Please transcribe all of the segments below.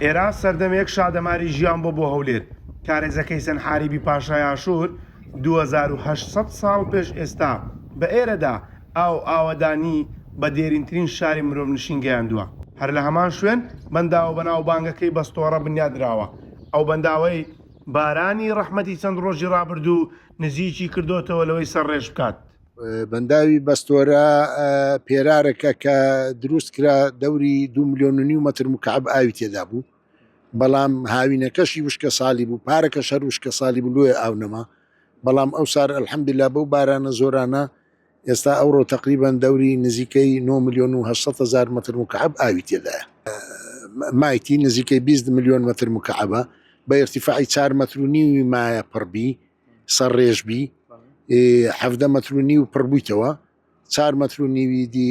ئێران سەردەمێک شادەماری ژیان بۆ بۆ هەولێر کارێزە کەیسەن حاریبی پاشای ئاشوور 2800 ساڵ پێش ئێستا بە ئێرەدا ئاو و ئاوەدانی بە دێرینترین شاری مرۆڤنشین گەیاندووە. هەر لە هەمان شوێن، بەنداوە بەناوبانگەکەی بەستۆڕە بنیادنراوە. ئەو بەنداوەی بارانی ڕەحمەتی چەند ڕۆژی ڕابردوو نزیکی کردۆتەوە لەوەی سەرڕێژ بکات. بەنداوی بەستۆرە پێرارەکە کە دروست کرا دەوری دوو ملیۆن و نیو مەتر مکعەب ئاوی تێدا بوو، بەڵام هاوینەکەشی وشکەساڵی بوو، پارەکەش هەر وشکەساڵی بوو لۆیە ئاو نەما، بەڵام ئەوسار الحمدللە بەو بارانە زۆرانە، ئێستا ئەوڕۆ تەقریبەن دەوری نزیکەی نۆ ملیۆن و هەشت سەد هەزار مەتر مکعەب ئاوی تێدایە. مایتی نزیکەی بیست ملیۆن مەتر مکعەبە، بە ئیرتیفاعی چار مەتر و نیوی مایە پڕ بی، سەرڕێژ بی، حەڤدە مەتر و نیو پڕ بوویتەوە، چار مەتر و نیوی دی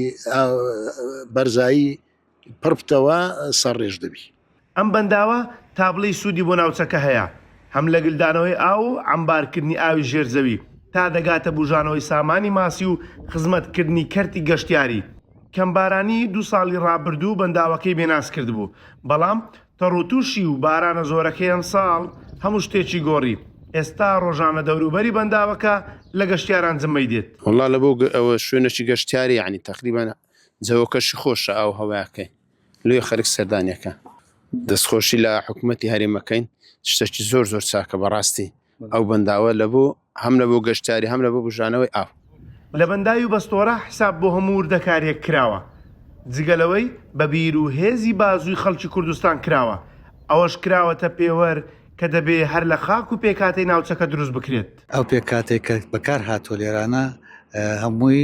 بەرزایی پڕبتەوە سەرڕێژ دەبی. ئەم بەنداوە تا بڵێی سوودی بۆ ناوچەکە هەیە، هەم لە گلدانەوەی ئاو و عەمبارکردنی ئاوی ژێر زەوی تا دەگاتە بوژانەوەی سامانی ماسی و خزمەتکردنی کەرتی گەشتیاری، کەم بارانی دوو ساڵی ڕابردوو بەنداوەکەی بێناز کردبوو، بەڵام تەڕوتوشی و بارانە زۆرەکەی ئەمساڵ هەموو شتێکی گۆڕی، ئێستا ڕۆژانە دەوروبەری بەنداوەکە لە گەشتیاران جمەی دێت. وەڵا لەبۆ ئەوە شوێنەکی گەشتیاری یەعنی تەقریبەن جەوەکەشی خۆشە ئاو هەوایەکەی لۆی خەرک سەردانی ئەکا. دەستخۆشی لە حکومەتی هەرێم ئەکەین شتەکی زۆر زۆر چاکە بەڕاستی ئەو بەنداوە لە بۆ هەم لە بۆ گەشتیاری هەم لە بۆ بوژانەوەی ئاو. لە بەنداوی بەستۆرە حساب بۆ هەموو وردەکاریەک کراوە جگە لەوەی بە بیر و هێزی بازووی خەڵکی کوردستان کراوە ئەوەش کراوەتە پێوەر کە دەبێ هەر لە خاک و پێکهاتەی ناوچەکە دروست بکرێت. دەکات. ئەو پێکهاتەی کە بەکار هاتووە لێرانە هەمووی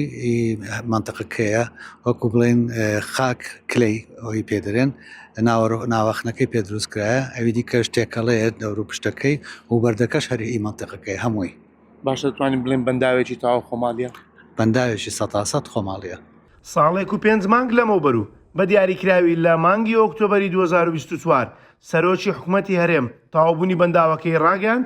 مەنتقەکەیە وەکو بڵێن خاک کلەی ئەوی پێدرێن ناوەخنەکەی پێ دروست کرایە ئەوی دیکەش تێکەڵەیە دەور و پشتەکەی و بەردەکەش هەرهی مەنتقەکەی هەمووی باشە توانین بڵێن بەنداوێکی تاوا خۆماڵیە؟ بەنداوێکی سەتاسەد خۆماڵیە. ساڵێک و پێنج مانگ لەمەوبەر و بە دیاریکراوی لە مانگی ئۆکتۆبەری دوو هەزار و بیست و چوار سەرۆکی حکومەتی هەرێم تەواوبوونی بەنداوەکەی ڕاگەیاند،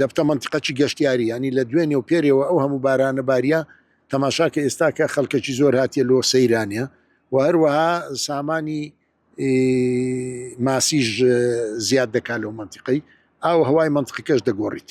دەبتە مەنتیقەکی گەشتیاری ینی لە دوێنێ و پێرەوە ئەو هەموو بارانە باریە تەماشا کە ئێستا کە خەڵکەکی زۆر هااتە لۆ سەیرانە و هەروەها سامانی ماسیش زیاد دەکات لەو منتیقەی ئاو هەوای منتقەکەش دەگۆڕیت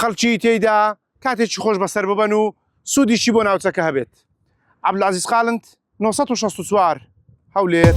خەڵکی تێیدا کاتێکی خۆش بەسەر ببەن و سوودیشی بۆ ناوچەکە هەبێت عبلازیز قالنت 1964 هەولێر.